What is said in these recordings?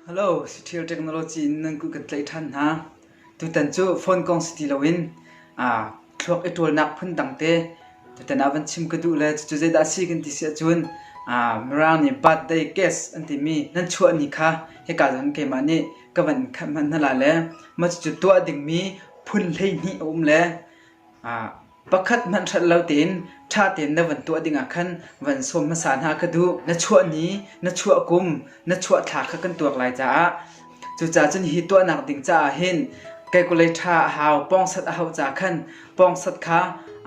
Hello, Sathil Technology in nan ku kan tlaih ṭhan hna. Tutan cu phone kong si ti loin aa thluak i ṭawlnak phun dangte tutan ah van chim ka duh le cucu zeidah a si kan ti si ahcun aa Mirang nih birthday guest an timi nan chuahni kha hika zan keimah nih ka van in khat hmanh hna la le mah cucu tuah dingmi phun hleihnih a um le aa Pakhat hmanh hrelh lo tein ṭha tein na vun tuah dingah khan van sawm hmasa hna kha duh. Na chuah ni, na chuah kum, na chuah thla kha kan tuak lai caah cucaah cun hihi tuahnak ding caah hin kalkulei ṭha a hau, pawngsat a hauh caah khan pawngsat kha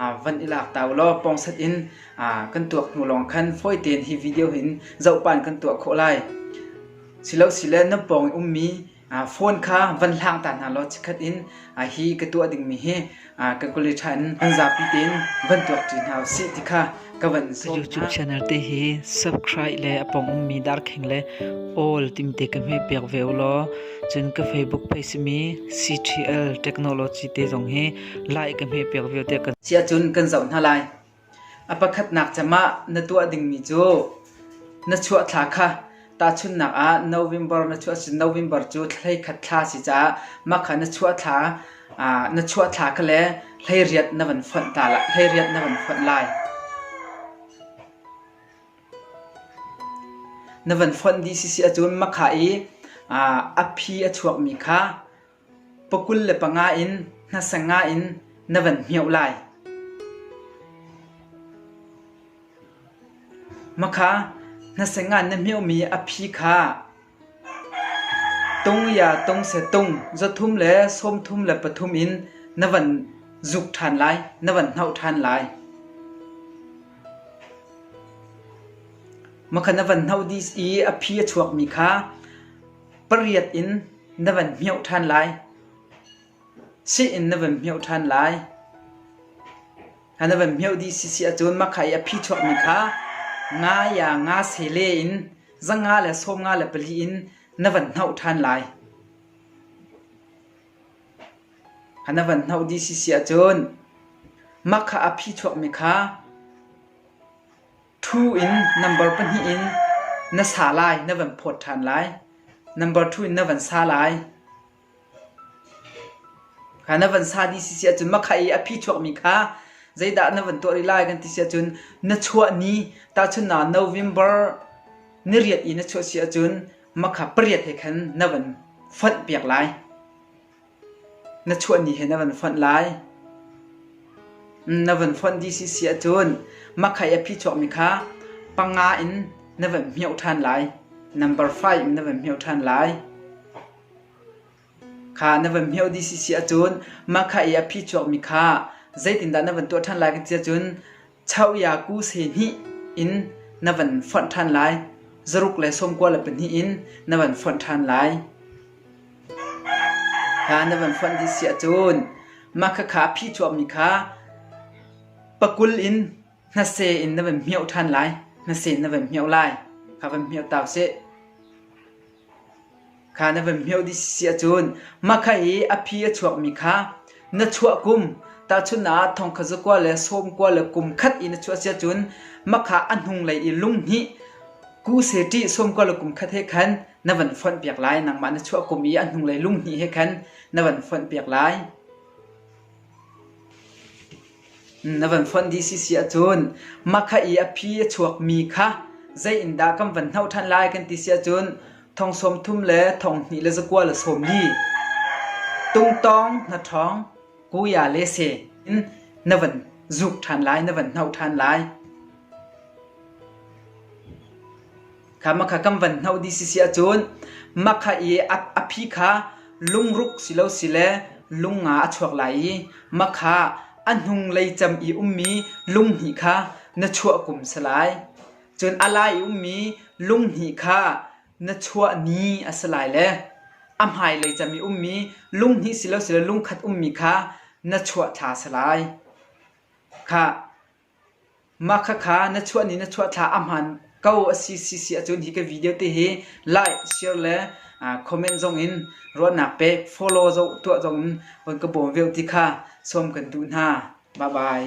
aa van i lak ta u law pawngsat in aa kan tuak hnu lawng khan fawi tein hi video hin zohpan kan tuah khawh lai. Silosi le nan pawng i ummi Phone kha van hlang ta hna law chikkhat in hi ka tuah dingmi hi Kalkawlei ṭha in an zapi tein van tuak ṭi hna usih ti kha ka van sawm hna. YouTube channel te hi subscribe le a pong ummi darkheng le all timte ka hme piak ve u law cun ka Facebook page simi CTL Technology te zong hi like ka hme piak ve te kan. Cia cun kan zoh hna lai. A pakhatnak cem ah na tuah dingmi cu na chuah thla kha tahchunhnak ah November na chuah si November cu thlei khat thla a si caah mah kha na chuah thla na chuah thla kha le hleiriat na van fonh ta lai hleiriat na van fonh lai. Na van fonh dih sisi ahcun mah kha i a phi a chuakmi kha Pakul le panga in hnasa nga in na van hmioh lai. Makha hnasa ngan na hmiohmi a phi kha tung ya tung se tung zathum le sawmthum le pathum in na van zuk ṭhan lai, na van hnoh ṭhan lai. Makha na van hnoh dih i a phi a chuakmi kha Pariat in na van hmioh ṭhan lai. Sih in na van hmioh ṭhan lai. A na van hmioh dih sisi ahcun mah kha i a phi chuakmi kha nga ya nga sele in zanga le sawm nga le pali in na van hnoh ṭhan lai. A na van hnoh dih sisi ahcun mah kha a phi chuakmi kha Ṭhu in nambar pahnih in na sa lai na van phawt ṭhan lai. Nambar ṭhu in na van sa lai. Kha na van sa dih si si ahcun makha i a phi chuakmi kha zeidah na van tuah rih lai kan ti si ahcun na chuah ni tahchun na November ni riat i na chuah si ahcun makha pariat he khan na van fonh piak lai. Na chuahni hi na van fonh lai. Na van fonh dih sisi ahcun makhai a phi chuakmi kha panga in na van hmioh ṭhan lai. Number five in na van hmioh ṭhan lai. Kha na van hmioh dih sisi ahcun makhai i a phi chuakmi kha zeitindah na van tuah ṭhan lai ka ti ahcun Chauyaku se hnih in na van fonh ṭhan lai; zaruk le sawmkua le pahnih in na van fonh ṭhan lai. Kha na van fonh dih siah cun mahkhakha a phih chuahmi kha pakul in hnase in na van hmioh ṭhan lai. Hnase in na van hmioh lai. Kha van hmioh ta u sih. Kha na van hmeuh dih si ahcun mahkha i a phi a chuakmi kha na chuah kum tahchunhnak ah thongkhat zakua le sawmkua le kum khat i na chuah si ahcun mahkha a hnunglei i lunghnih kuse ṭih sawmkua le kum khat he khan na van fonh piak lai. Nangmah na chuah kum i a hnunglei lunghnih he khan na van fonh piak lai. Na van fonh dih sisi ahcun makha i a phi a chuakmi kha zei in dah kan van hnoh ṭhan lai kan ti si ahcun thong sawm thum le thong hnih le zakua le sawmli, tumtawng hnaṭhawng, kuya le se in na van zuk ṭhan lai, na van hnoh ṭhan lai. Kha makha kan van hnoh dih sisi ahcun makha i a phi kha lungruk si lo sile lunga a chuak lai i makha a hnung lei cam i ummi lunghnih kha na chuah kum si lai. Cun a lai i ummi lunghnih kha na chuah ni a si lai le a hmailei cam i ummi lunghnih si lo sile lungkhat ummi kha na chuah thla si lai. Kha Mah khakha na chuah ni na chuah thla ahmaan ko a si sisi ahcun hi ka video te hi like, share le comment zongin ruahnak pek, follow tuah zongin von ka bawm veu ti kha sawm kan duh hna. Bye bye.